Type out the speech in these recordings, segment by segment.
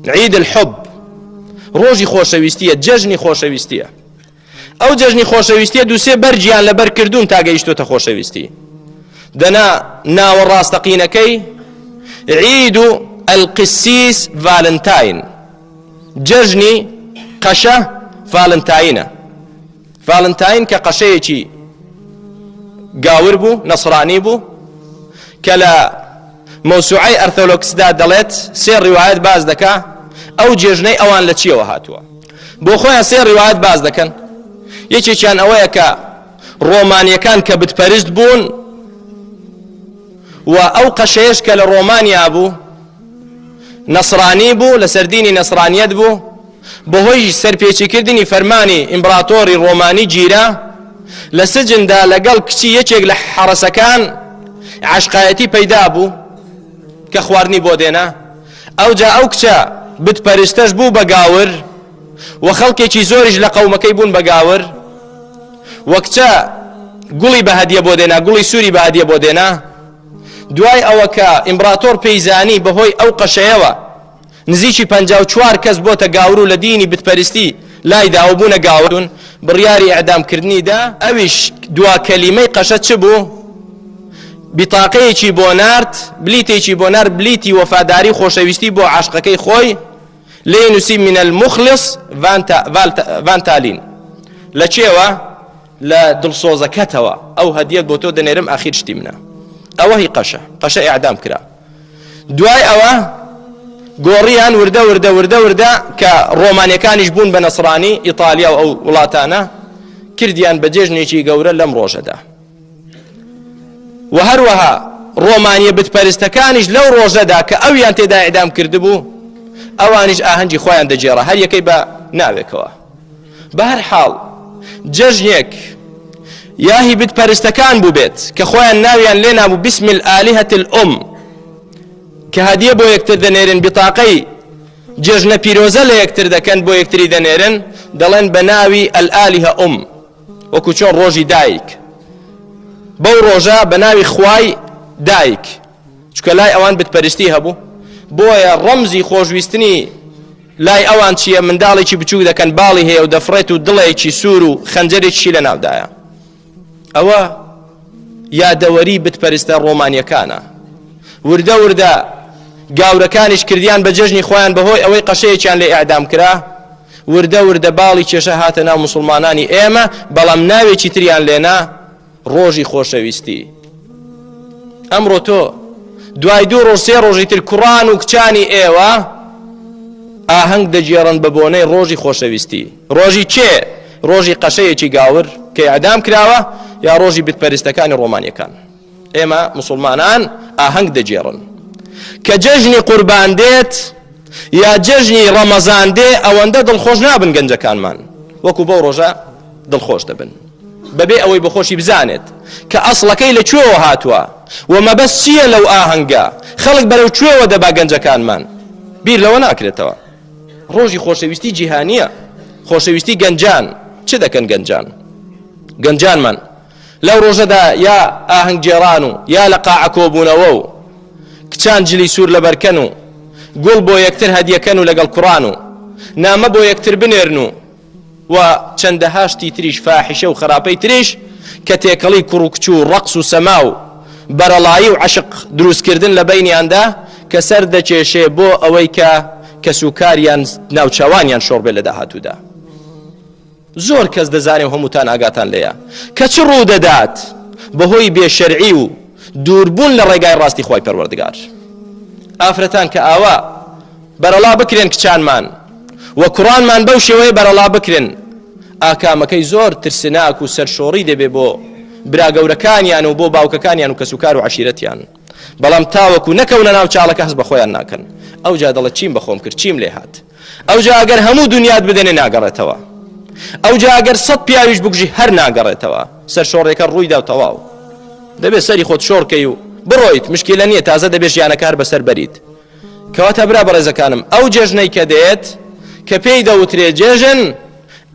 عید الحب ڕۆژی خۆشەویستیە جەژنی خۆشەویستیە ئەو جەژنی خۆشەویستیە دووسێ بەرجیان لەبەر کردوون تا گەیشتوتە خۆشەویستی دەنا ناوە ڕاستەقینەکەی عید و ئەلقسیس ڤالنتاین جەژنی قەشە ڤالنتاینە ڤالنتاین کە قەشەیەکی گاور بوو نەسرانی بوو کە لە مەوسوعەی ئەرثۆلۆکسدا دەڵێت سێ ڕیواەت باز دەکا ئەو جێژنەی ئەوان لە چیەوە هاتووە بۆ خۆیان سێ ڕیواەت باز دەکەن یەکێکیان ئەوەیە کە ڕۆمانیەکان کە بتپەرست بوون و ئەو قەشەیەش کە لە ڕۆمانیا بوو نەسرانی بوو لە سەردینی نەسرانیت بوو بەهۆی سەرپێچیکردنی فەرمانی ئیمبراتۆری ڕۆمانی گیرا لە سجندا لەگەڵ کچی یەکێک لە حەڕەسەکان عاشقایەتی پەیدا بوو کە خواردنی بۆ دێنا ئەوجا ئەو کچە بتپەرستەش بوو بە گاور و خەڵکێکی زۆریش لە قەومەکەی بوون بە گاور وە کچە گوڵی بە هەدیە بۆ دێنا گوڵی سووری بە هەدیە بۆ دێنا دوای ئەوە کە ئیمبراتۆر پێیزانی بەهۆی ئەو قەشەیەوە نزیکی پەنجا و چوار کەس بۆتە گاورو لە دینی بتپەرستی لای دا و بوونە گاورون بڕیاری ئیعدام کردنی دا ئەویش دوا کەلیمەی قەشە چ بوو بتاقەیەکی بۆ نارد بلیتێکی بۆ نار بلیتی وەفاداری خۆشەویستی بۆ عاشقەکەی خۆی لێ نووسی من المخلص ڤانتالین لە چێوە لە دڵسۆزەکەتەوە ئەو هەدیەت بۆ تۆ دەنێرم ئاخیر شتی منە ئەوە هی قەشە قەشە ئیعدام کرا دوای ئەوە گۆڕیان وردە وردە وردە وردە کە ڕۆمانیەکانیش بوون بە نەسرانی ئیتالیا و ئەو وڵاتانە کردیان بە جێژنێکی گەورە لەم ڕۆژەدا و هەروەها ڕۆمانیە بتپەرستەکانیش لەو ڕۆژەدا کە ئەویان تێدا ئیدام کردبوو ئەوانیش ئاهەنگی خۆیان دەجێڕە هەر یەکەی بە ناوێکەوە بەهەر حاڵ جەژنێک یا هی بت پەرستەکان بووبێت کە خۆیان ناویان لێ نابوو بسم الآلهة الأم کە هەدیە بۆ یەکتر دەنێرن بتاقەی جێژنە پیرۆزە لە یەکتر دەکەن بۆ یەکتری دەنێرن دەڵێن بە ناوی ئەلئالیه ئوم وەکو چۆن ڕۆژی دایک بەو ڕۆژە بە ناوی خوای دایک چکە لای ئەوان بتپەرستی هەبوو بۆیە ڕەمزی خۆشویستنی لای ئەوان چییە منداڵێکی بچوو دەکەن باڵی هەیە و دەفڕێت و دڵێکی سوور و خەنجەرێکی لە ناودایە ئەوە یادەوەری بتپەرستە ڕۆمانیەکانە وردە وردە گاورەکانیش کردیان بە جەژنی خۆیان بەهۆی ئەوەی قەشەیەکیان لە ئەعدام کرا وردە وردە باڵی کێشە هاتە ناو مسلمانانی ئێمە بەڵام ناوێکی تریان لێنا ڕۆژی خۆشەویستی ئەمڕۆ تۆ دوای دوو ڕۆژ سێ ڕۆژی تر کوڕان و کچانی ئێوە ئاهەنگ دەگێڕن بە بۆنەی ڕۆژی خۆشەویستی ڕۆژی چێ ڕۆژی قەشەیەکی گاور کە ئەدام کراوە یا ڕۆژی بتپەرستەکانی ڕۆمانیەکان ئێمە مسلمانان ئاهەنگ دەگێڕن کە جەژنی قوربان دێت یا جەژنی ڕەمەزان دێ ئەوەندە دڵخۆش نابن گەنجەکانمان وەکو بەو ڕۆژە دڵخۆش دەبن بەبێ ئەوەی بەخۆشی بزانێت کە ئەسڵەکەی لە کوێوە هاتووە و مەبەست چییە لەو ئاهەنگە خەڵک بەرەو کوێوە دەبا گەنجەکانمان بیر لەوە ناکرێتەوە ڕۆژی خۆشەویستی جیهانیە خۆشەویستی گەنجان چ دەکەن گەنجان گەنجانمان لەو ڕۆژەدا یا ئاهنگگێڕان و یا لە قاعە کۆبوونەوە و کچان جلی سوور لەبەرکەن و گوڵ بۆ یەکتر هەدیەکەن و لەگەڵ کوڕان و نامە بۆ یەکتر بنێرن و و چەندەها شتی تریش فاحیشە و خراپەی تریش کە تێکەڵی کوڕ و کچ و ڕەقس و سەما و بەرەڵایی و عەشق دروستکردن لە بەینیاندا کە سەر دەکێشێ بۆ ئەوەی کە کەسوکاریان ناوچەوانیان شۆڕ بێ لە داهاتوودا زۆر کەس دەزانێ و هەمووتان ئاگاتان لێیە کە چ ڕوو دەدات بەهۆی بێشەرعی و دووربوون لە ڕێگای ڕاستی خۆی پەروەردگار ئافرەتان کە ئاوا بەرەڵا بکرێن کچانمان و کوڕانمان بەو شێوەیە بەرەڵا بکرێن ئاکامەکەی زۆر ترسناک و سەرشۆڕی دەبێ بۆ براگەورەکانیان و بۆ باوکەکانیان و کەسوکار و عشیرەتیان بەڵام تاوەکو نەکەونە ناو چاڵەکە هەز بە خۆیان ناکەن ئەو جا دەڵە چیم بەخۆم کرد چیم لێ هاات ئەو جا ئەگەر هەموو دنیات بدەنێ ناگەڕێتەوە ئەو جا ئەگەر سەد پیاویش بگژی هەر ناگەڕێتەوە سەر شۆڕێکە ڕووی دا و تەواو دەبێت سەری خۆت شۆڕکەی و بڕۆیت مشکلە نییە تازە دەبێت ژیانەکار بەسەر بەریت کەواتە برا بەڕێزەکانم ئەو جێژنەی کە دێت کە پێی دەوترێ جێژن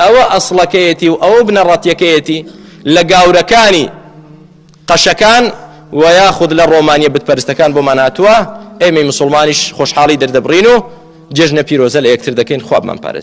ئەوە ئەسڵەکەیەتی و ئەوە بنەڕەتیەکەیەتی لە گاورەکانی قەشەکان و یاخود لە ڕۆمانیە بتپەرستەکان بۆمان هاتووە ئێمەی مسلمانیش خۆشحاڵی دەردەبڕین و جێژنە پیرۆزە لە یەکتر دەکەین خوابمان پارێز